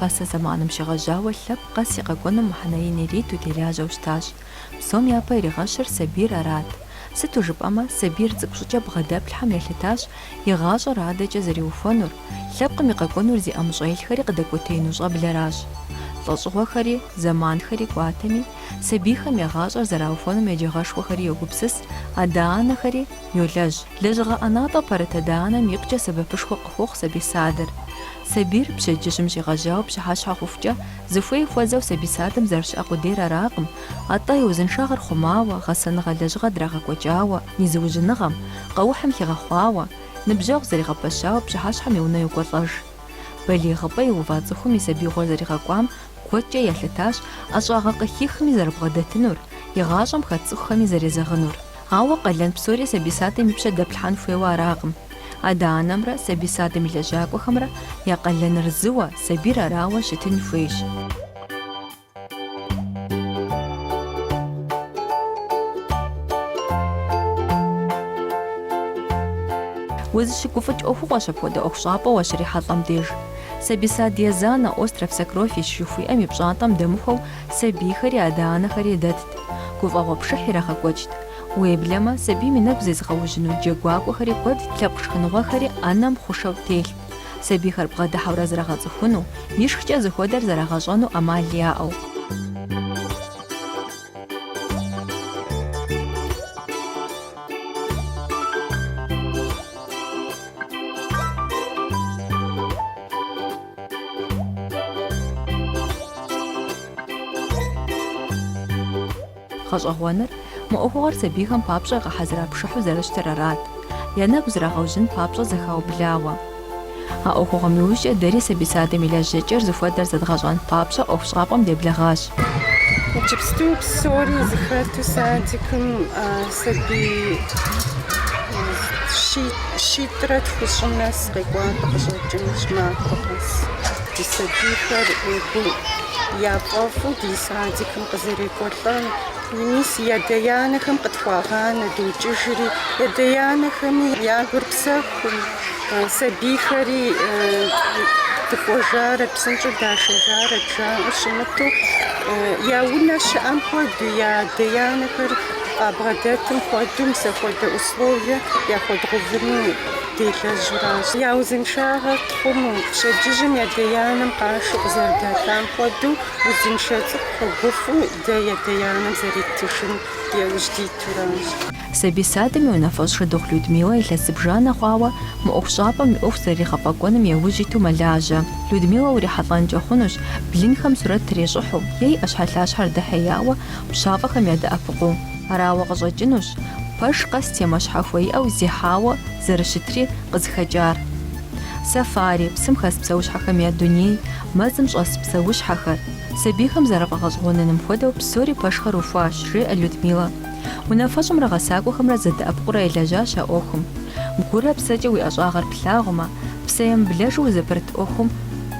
Пасэ зэманым щегъэжьауэ лъэпкъ къэс и къэкӏуэнум мыхьэнэ ин ириту телажьэу щытащ. Псом япэ иригъэщыр сабийр арат. Сыту жыпӏэмэ, сабийр цӏыкӏу щӏыкӏэ бгъэдэплъхьэм елъытащ и гъащӏэр адэкӏэ зэриухуэнур, лъэпкъым и къэкӏуэнур зи ӏэмыщӏэ илъхэри къыдэкӏуэтеину щӏэблэращ. Лӏэщӏыгъуэхэри, зэманхэри кӏуатэми, сабийхэм я гъащӏэр зэраухуэнум еджагъэшхуэхэри йогупсыс, адэ-анэхэри йолэжь. Лэжьыгъэ ӏэнатӏэ пэрыт адэ-анэм икъукӏэ сэбэпышхуэ къыхуохъу сабий садыр. Сабийр пщэдджыжьым щигъэжьауэ пщыхьэщхьэ хъухукӏэ, зыхуей хуэзэу сабий садым зэрыщыӏэ къудейр аракъым, атӏэ и узыншагъэр хъумауэ, гъэсэныгъэ лэжьыгъэ драгъэкӏуэкӏауэ, и зыужьыныгъэм, къэухьым хигъэхъуауэ, ныбжьэгъу зэригъэпэщауэ пщыхьэщхьэм и унэ йокӏуэлӏэж. Балигъыпӏэ иува цӏыхум и сабиигъуэр зэригъэкӏуам куэдкӏэ елъытащ ӏэщӏагъэ къыхихми зэрыбгъэдэтынур, и гъащӏэм хэт цӏыхухэми зэрезэгъынур. Ауэ къалэн псори сабий садым и пщэ дэплъхьэн хуейуэ аракъым. Адэ-анэмрэ сабий садым и лэжьакӏуэхэмрэ я къалэныр зыуэ, сабийр арауэ щытын хуейщ. Узыщыгуфӏыкӏ ӏуэхугъуэщ апхуэдэ ӏуэхущӏапӏэ уащрихьэлӏэм деж. Сабий сад езанэ, Остров сокровищ жыхуиӏэм и пщӏантӏэм дэмыхуэу Сабийхэри адэ-анэхэри дэтт, гуфӏэгъуэ пшыхь ирагъэкӏуэкӏт. Уеблэмэ, сабийм и нэгу зезыгъэужьыну джэгуакӏуэхэри куэдт, лъэпкъ шхыныгъуэхэри ӏэнэм хъушэу телът, сабийхэр бгъэдыхьэурэ зрагъэцӏыхуну, ишхкӏэ зыхуэдэр зрагъэщӏэну ӏэмал яӏэу. Гъэщӏэгъуэныр, мы ӏуэхугъуэр сабийхэм папщӏэ гъэхьэзыра пшыхьу зэрыщытыр арат, я нэгу зрагъэужьын папщӏэ зэхаублауэ. А ӏуэхугъуэм иужькӏэ дэри сабий садым и лэжьэкӏэр зыхуэдэр зэдгъэщӏэн папщӏэ ӏуэхущӏапӏэм деблэгъащ. Иджыпсту псори зэхэту садикым Сабий щитӏрэ тхущӏым нэс къекӏуалӏэ къыщӏэкӏынущ махуэ къэс. Ди сабийхэр гу яфӏэфӏу ди садикым къызэрекӏуэлӏэн, мис я адэ-анэхэм къытхуагъанэ, докӏыжри, я адэ-анэхэми я гур псэхуу, сабийхэри дыкӏуэжарэт, псынщӏэу дашэжарэт жаӏэу щымыту, я унэ щыӏэм хуэдэу я адэ-анэхэр Къабгъэдэтым хуэдэу мис апхуэдэ условие яхуэдгъэувыну делэжьуращ. Я узыншагъэр тхъуму, пщэдджыжьым адэ-анэм къашэу къызэрыдатам хуэдэу, узыншэ цӏыкӏу къыгуфӏу дэ адэ-анэм зэреттыжын яужь дитуращ. Сабий садым и унафэщӏ Шыдыгъу Людмилэ илъэс зыбжанэ хъуауэ мы ӏуэхущӏапӏэм и ӏуэху зэригъэфӏэкӏуэным яужь иту мэлажьэ. Людмилэ урихьэлӏэнкӏэ хъунущ, блынхэм сурэт трещӏыхьу, е и ӏэщхьэлъащхьэр дыхьеяуэ, пщафӏэхэм ядэӏэпыкъуу. Арауэ къыщӏэкӏынущ пэш къэс темэ щхьэхуэ иӏэу зехьауэ зэрыщытри къызыхэкӏар. Сафари, псым хэс псэущхьэхэм я дуней, мэзым щӏэс псэущхьэхэр. Сабийхэм зэрафӏэгъэщӏэгъуэныным хуэдэу псори пэшхэр ухуащ, жеӏэ Людмилэ. Унафэщӏымрэ гъэсакӏуэхэмрэ зэдэӏэпыкъурэ елэжьащ а ӏуэхум. Гурэ псэкӏэ уи ӏэщӏагъэр плъагъумэ, псэемыблэжу узыпэрыт ӏуэхум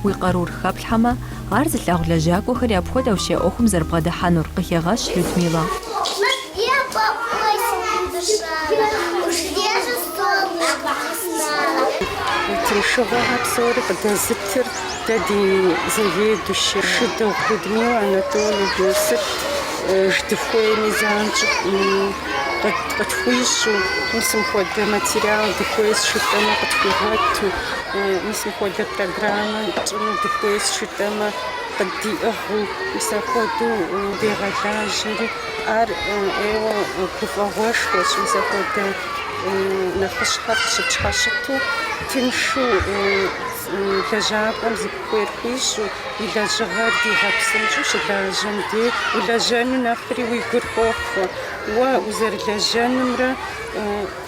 уи къарур хэплъхьэмэ, Ар зылъагъу лэжьакӏуэхэри апхуэдэущ я ӏуэхум зэрыбгъэдыхьэнур, къыхегъэщ Людмилэ. Тыншыгъуэхэр псори къыдэзытыр дэ ди заведующэ Шыдыгъу Людмилэ Анатольевнэ, сыт дыхуейми занщӏыу къытхуищӏу, мис мыпхуэдэ материал дыхуейс жытӏэми къытхуигъэту. Мис мыпхуэдэ программэ тщӏыну дыхуейс жытӏэмэ, къыддиӏыгъыу, мис апхуэдэу дегъэлажьэри, ар ӏейуэ гуфӏэгъуэшхуэщ, мис апхуэдэ нэхъыщхьэр къыщыпщхьэщыту, тыншу лэжьакӏуэм зыхуейр хуищӏу, и лэжьыгъэр дигъэпсынщӏу щылажьэм дей, улэжьэну нэхъри уи гур хохъуэ, уэ узэрылэжьэнымрэ.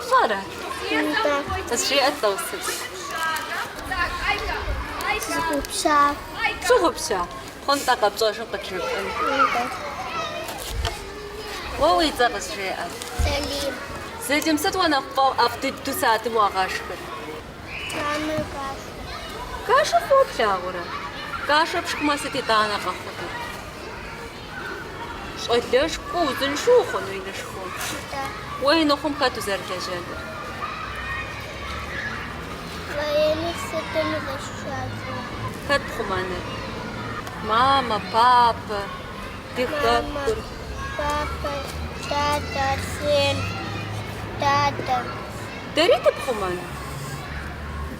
Пщӏэрэ? Нтӏэ. Къызжеӏэ-тӏэ усэ. Сщыгъупща. Пщыгъупща? Хъунтӏэ къэпщӏэжым къыджепӏэн. Нтӏэ. Уэ уи цӏэ къызжеӏэ. Сэлим. Сэлим, сыт уэ нэхъ пфӏэӏэфӏ дыдэу садым уагъэшхыр? Маннэ кашэ. Кашэ фӏыуэ плъагъурэ? Кашэ пшхмэ, сыт итӏанэ къэхъунур? Щӏалэшхуэ узыншэу ухъуну инышхуэу? Да. Уэ ин ухъум хэт узэрылэжьэнур? Военнэ сытым узэшчазу? Хэт пхъумэныр? Мамэ, папэ, ди хэкур. Папэ, дадэ, сын, дадэ. Дэри дыпхъумэну?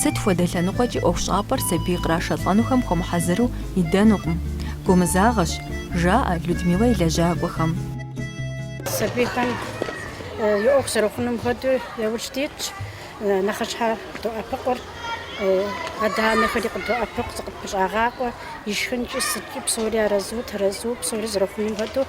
Сыт хуэдэ лъэныкъуэкӏи ӏуэхущӏапӏэр сабий кърашэлӏэнухэм хуэмыхьэзыру идэнукъым. Гумызагъэщ, жаӏэ Людмилэ и лэжьакӏуэхэм. Сабийхэм и ӏуэху зэрыхъунум хуэдэу яужь дитщ. Нэхъыщхьэ къыдоӏэпыкъур, адэ-анэхэри къыдоӏэпыкъу, зыкъытхущӏагъакъуэ, ишхынкӏи, сыткӏи псори арэзыу, тэрэзыу, псори зэрыхъунум хуэдэу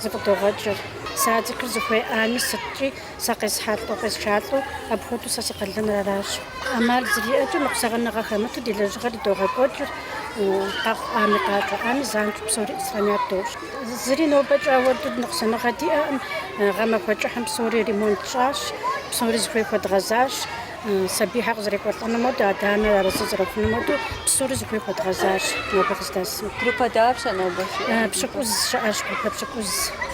зыкъыдогъэкӏыр. Садикыр зыхуеӏами, сыткӏи Сэ къесхьэлӏэу, къесшалӏэу, апхуэдэу сэ си къалэныр аращ. ӏэмал зэриӏэкӏэ ныкъусэгъэныгъэ хэмыту ди лэжьыгъэр идогъэкӏуэкӏыр, къэхъу ӏами къакӏуэ ӏами занщӏэу псори исполнять дощӏ. Зыри нобэкӏэ ауэду ныкъусаныгъэ диӏэкъым, гъэмахуэ кӏыхьым псори ремонт тщӏащ, псори зыхуей хуэдгъэзащ. Сабийхэр къызэрекӏуэлӏэнум хуэдэу, адэ-анэр арэзы зэрыхъунум хуэдэу псори зыхуей хуэдгъэзащ нобэ къыздэсым. Группэ дапщэ нобэ щыӏэр? Пщыкӏуз щыӏэщ, группэ пщыкӏуз.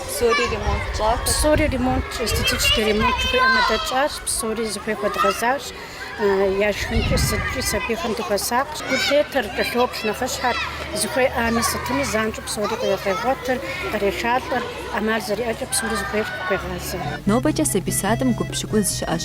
Псори ремонт тщӏахэщ? Псори ремонт, эстетический ремонт жыхуиӏэм хуэдэ тщӏащ, псори зыхуей хуэдгъэзащ, яшхынкӏи сыткӏи сабийхэм дыхуэсакъщ. Гу лъетэр, кӏэлъоплъ нэхъыщхьэр, зыхуеӏами сытми занщӏэу псори къегъуэтыр, кърешалӏэр, ӏэмал зэриӏэкӏэ псори зыхуей хуегъазэ. Нобэкӏэ сабий садым гуп пщыкӏуз щыӏэщ,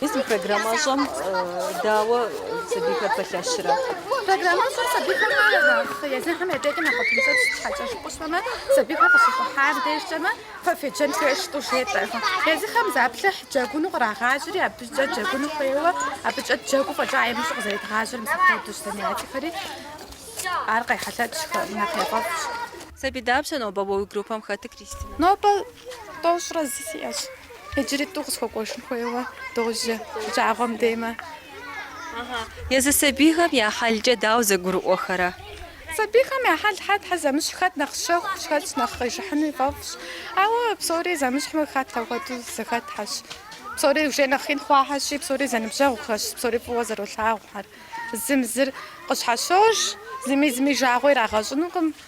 Мис мы программэщӏэм дауэ сабийхэр пэлъэщрэ? Программэщӏэр сабийхэм нэхъ езыхэм я дежкӏэ нэхъ тыншщ, сыт щхьэкӏэ жыпӏэу щытмэ, сабийхэр къыщыщӏыхьам дежкӏэмэ, фэ феджэн хуейщ жытӏэу жетӏэ. Езыхэм заплыхь джэгуну кърагъажьэри, абыкӏэ джэгуну хуейуэ, абыкӏэ джэгуу фӏэкӏа имыщӏу къызэридгъажьэр мис апхуэдэущ занятиехэри. Ар къехьэлъэкӏщ, нэхъ яфӏэфӏщ. Сабий дапщэ нобэ уэ уи группэм хэтыр, Кристинэ? Нобэ тӏощӏрэ зы сиӏэщ. Иджыри тӏу къысхуэкӏуэжын хуейуэ, дожьэ жагъуэм деймэ. Езы сабийхэм я хьэлкӏэ дауэ зэгурыӏуэхэрэ? Сабийхэм я хьэл хьэтхьэ зэмыщхь хэт нэхъ щэхущ, хэт нэхъ къижыхьыну ифӏэфӏщ. Ауэ псори зэмыщхьмэ хэт апхуэдэу зэхэтхьэщ. Псори уже нэхъ ин хъуахьэщи, псори зэныбжьэгъухэщ, псори фӏыуэ зэролъагъухэр. Зым зыр къыщхьэщож, зыми зыми жагъуэ ирагъэщӏынукъым.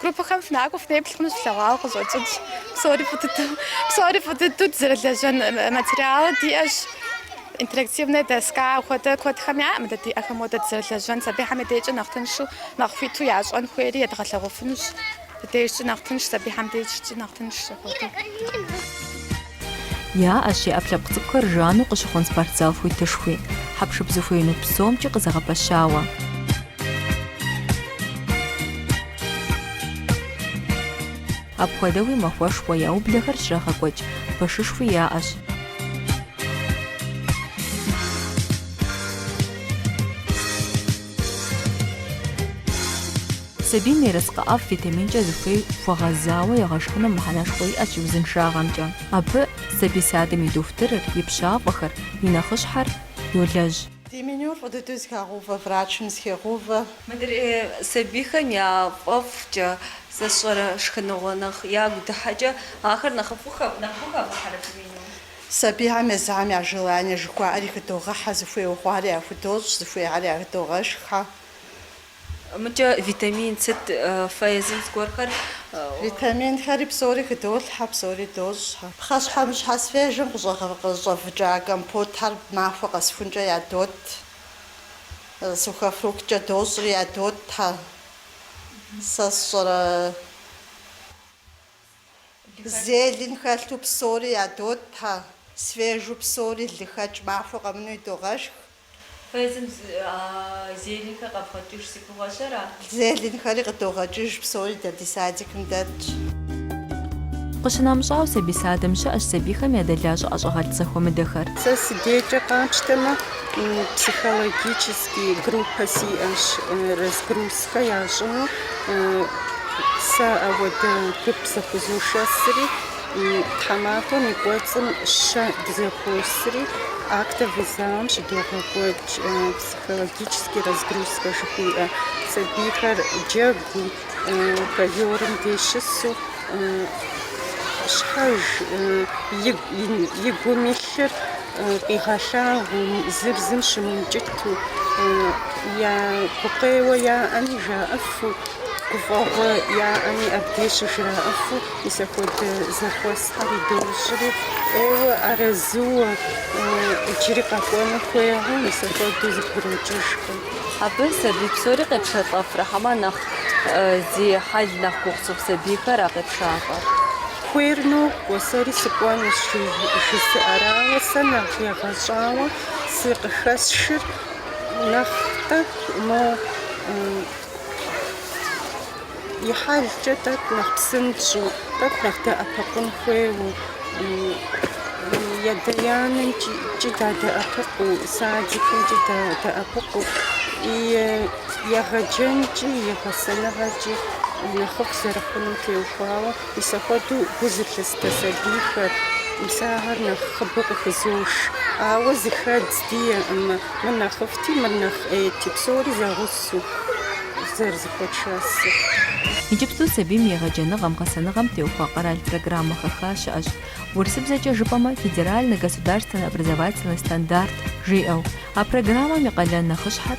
Группэхэм фынакӏуэу фынеплъ хъунущ, флъэгъуауэ къыщӏэкӏынщ. Псори фӏы дыдэу, псори фӏы дыдэу дызэрылэжьэн материалы диӏэщ. Интерактивнэ доска хуэдэ куэдхэм яӏэкъым дэ диӏэхэм хуэдэ дызэрылэжьэн. Сабийхэм я дежкӏэ нэхъ тыншу, нэхъ хуиту ящӏэн хуейри едгъэлъэгъуэфынущ. Ди дежкӏи нэхъ тынш, сабийхэм дежкӏи нэхъ тынш апхуэдэу. Яӏэщ и ӏэпкълъэпкъ цӏыкӏухэр жану къыщыхъун спортзал хуитышхуи, хьэпшып зыхуеину псомкӏи къызэгъэпэщауэ. Апхуэдэуи махуэшхуэ яублэхэр щрагъэкӏуэкӏ пэшышхуи яӏэщ. Сабийм ерыскъы ӏэфӏ витаминкӏэ зыхуей хуэгъэзауэ егъэшхыным мыхьэнэшхуэ иӏэщ и узыншагъэмкӏэ. Абы сабий садым и дохутырыр, и пщафӏэхэр, и нэхъыщхьэр йолэжь. Ди менюр фӏы дыдэу зыхагъэувэ врачым зыхегъэувэ. Мыдрей сабийхэм я фӏэфӏкӏэ зэщӏэрэ шхыныгъуэ нэхъ ягу дыхьэкӏэ ахэр нэхъыфӏу хэвгъэхьэрэ фи менюм? Сабийхэм езыхэм я желание жыхуаӏэри хыдогъэхьэ, зыхуейуэ хъуари яхудощӏ, зыхуеяри ядогъэшххьэ. Мыкӏэ витамин сыт фэ езым зыгуэрхэр? Витаминхэри псори хыдолъхьэ, псори дощӏхьэ. Пхъэщхьэмыщхьэ свежым къыщӏэвыкӏа компотхэр махуэ къэсхункӏэ ядот, сухофрукткӏэ дощӏри ядотхьэ, сэ сщӏэрэ. Зелень хэлъу псори ядотхьэ, свежу псори лыхэкӏ махуэ къэмыну идогъэшх. Фэ езым зеленьхэр къэвгъэкӏыж, си гугъэщ, ара? Зеленьхэри къыдогъэкӏыж, псори дэ ди садикым дэтщ. Къыщынэмыщӏауэ сабий садым щыӏэщ сабийхэм ядэлажьэ ӏэщӏагъэлӏ зэхуэмыдэхэр. Сэ си дейкӏэ къапщтэмэ, психологическэ и группэ сиӏэщ, разгрузкэ ящӏыну, сэ ауэдэ гуп зыхузошэсри, тхьэмахуэм и кӏуэцӏым щэ дызэхуосри, актовый залым щыдогъэкӏуэкӏ, психологический разгрузкэ жыхуиӏэ, сабийхэр джэгуу, ковёрым деж щысу, щхьэж, и гум илъыр къигъэлъагъуу, зыр зым щымыукӏыту, я гукъеуэ яӏэми жаӏэфу, гуфӏэгъуэ яӏэми абдей щыжраӏэфу мис апхуэдэ зэхуэсхэр идощӏри, ӏейуэ арэзыуэ иджыри къэкӏуэну хуейхэу мис апхуэдэу зэбгрокӏыжхэ. Абы сабий псори къепшэлӏэфрэ хьэмэ нэхъ зи хьэл нэхъ гугъу цӏыху сабийхэр а къепшалӏэр? Хуейр нокӏуэ, сэри сыкӏуэнущ жызыӏэрауэ, сэ нэхъ егъэщӏауэ сэ къыхэсшыр нэхъ тӏэкӏу, мо и хьэлкӏэ тӏэкӏу нэхъ псынщӏэу, тӏэкӏу нэхъ дэӏэпыкъун хуейуэ, и адэ-анэмкӏи дадэӏэпыкъуу, садикымкӏи дадэӏэпыкъуу, и егъэджэнкӏи и гъэсэныгъэкӏи нэхъыфӏ зэрыхъунум теухуауэ. Мис апхуэдэу гу зылъыстэ сабийхэр мис ахэр нэхъыбэу къыхызош. Ауэ зэхэдз диӏэкъым, мыр нэхъыфӏти, мыр нэхъ ӏейти, псори зэгъусэу зэрызэхуэтшэсыр. Иджыпсту сабийм егъэджэныгъэм, гъэсэныгъэм теухуа къэрал программэ хэха щыӏэщ. Урысыбзэкӏэ жыпӏэмэ, федеральный государственный образовательный стандарт жиӏэу. А программэм и къалэн нэхъыщхьэр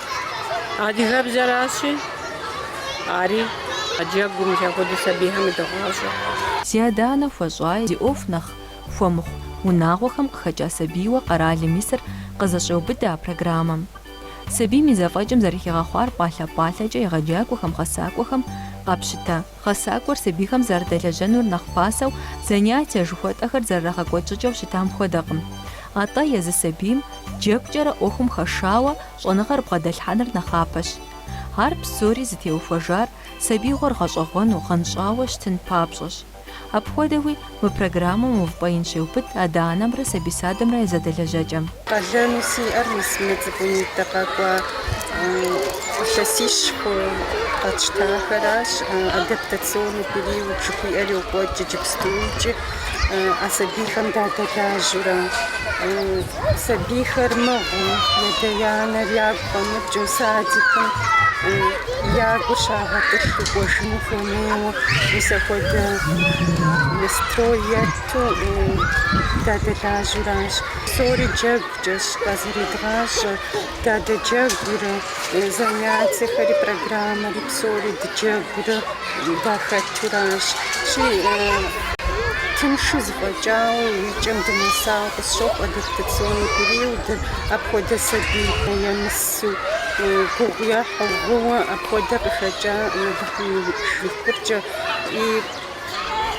Адыгэбзэращи, ари а джэгум мис апхуэдэ сабийхэм ядогъащӏэ. Зи адэ-анэ хуэщӏаи, зи ӏуэху нэхъ хуэмыхъу унагъуэхэм къыхэкӏа сабийуэ къэралым исыр къызэщӏеубыдэ а программэм. Сабийм и зэфӏэкӏым зэрыхигъэхъуар пӏалъэ-пӏалъэкӏэ егъэджакӏуэхэм, гъэсакӏуэхэм къапщытэ. Гъэсакӏуэр сабийхэм зэрыдэлэжьэнур нэхъ пасэу, занятие жыхуэтӏэхэр зэрырагъэкӏуэкӏыкӏэу щытам хуэдэкъым. Атӏэ езы сабийм, джэгукӏэрэ ӏуэхум хэшауэ, щӏэныгъэр бгъэдэлъхьэныр нэхъапэщ. Ар псори зытеухуэжар сабиигъуэр гъэщӏэгъуэну, гъэнщӏауэ щытын папщӏэщ. Апхуэдэуи, Мы программэм увыпӏэ ин щеубыд адэ-анэмрэ сабий садэмрэ я зэдэлэжьэкӏэм. Къалэну сиӏэр мис мы цӏыкӏунитӏэ къэкӏуа илъэсищ хъуу къэтщтахэращ, адаптационный период жыхуиӏэр йокӏуэкӏ иджыпстукӏи, а сабийхэм дадэлажьэурэ. Сабийхэр мыгъыу, ядэ-янэр ягу къэмыкӏыжу садикым я гур щагъэтӏылъу кӏуэжыну хуэмейуэ мис апхуэдэ настрой етту дадэлажьэуращ. Псори джэгукӏэщ къазэредгъащӏэр. Дадэджэгурэ занятиехэри, программэри псори дыджэгурэ. дахэтуращи, тыншу зэфӏэкӏауэ и кӏэм дынэсауэ къысщохъу адаптационный периодыр, апхуэдэ сабий емысу, гугъу ехьу, гъыуэ апхуэдэ къыхэкӏа жыфӏыкӏэ и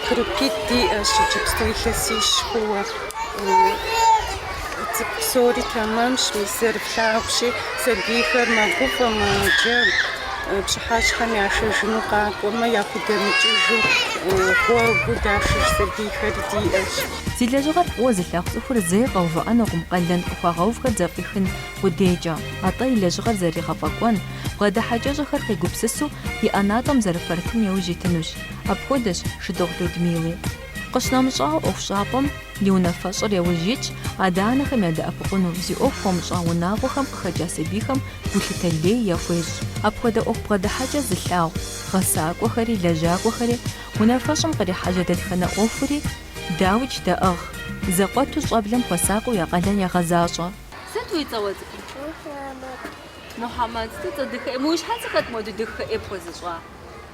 группитӏ диӏэщ иджыпсту илъэсищ хъууэ. Цӏыкӏу псори тэмэмщ, мис зэрыплъагъущи, сабийхэр мэгуфӏэ, мэджэгу, пщыхьэщхьэм яшэжыну къакӏуэмэ, яхудэмыкӏыжу гъуэгыу дашыж сабийхэри диӏэщ. Зи лэжьыгъэр фӏыуэ зылъагъу цӏыхур зэи къэувыӏэнукъым къалэн къыхуагъэувхэр зэфӏихын къудейкӏэ, атӏэ и лэжьыгъэр зэригъэфӏэкӏуэн, бгъэдыхьэкӏэщӏэхэр къигупсысу и ӏэнатӏэм зэрыпэрытын яужь итынущ. Апхуэдэщ Шыдыгъу Людмилэ. Къыщынэмыщӏауэ, ӏуэхущӏапӏэм и унафэщӏыр яужь итщ адэ-анэхэм ядэӏэпыкъуну, зи ӏуэху хуэмыщӏа унагъуэхэм къыхэкӏа сабийхэм гулъытэ лей яхуещӏ. Апхуэдэ ӏуэху бгъэдыхьэкӏэ зылъагъу гъэсакӏуэхэри, лэжьакӏуэхэри, унафэщӏым кърихьэжьэ дэтхэнэ ӏуэхури дауикӏ даӏыгъ. Зэкъуэту щӏэблэм хуэсакъыу я къалэн ягъэзащӏэ. Сыт уи цӏэ уэ цӏыкӏум? Мухьэмэд. Мухьэмэд, сыту цӏэ дахэ. Мы уи щхьэцыр хэт моду дахэ ӏей пхуэзыщӏа?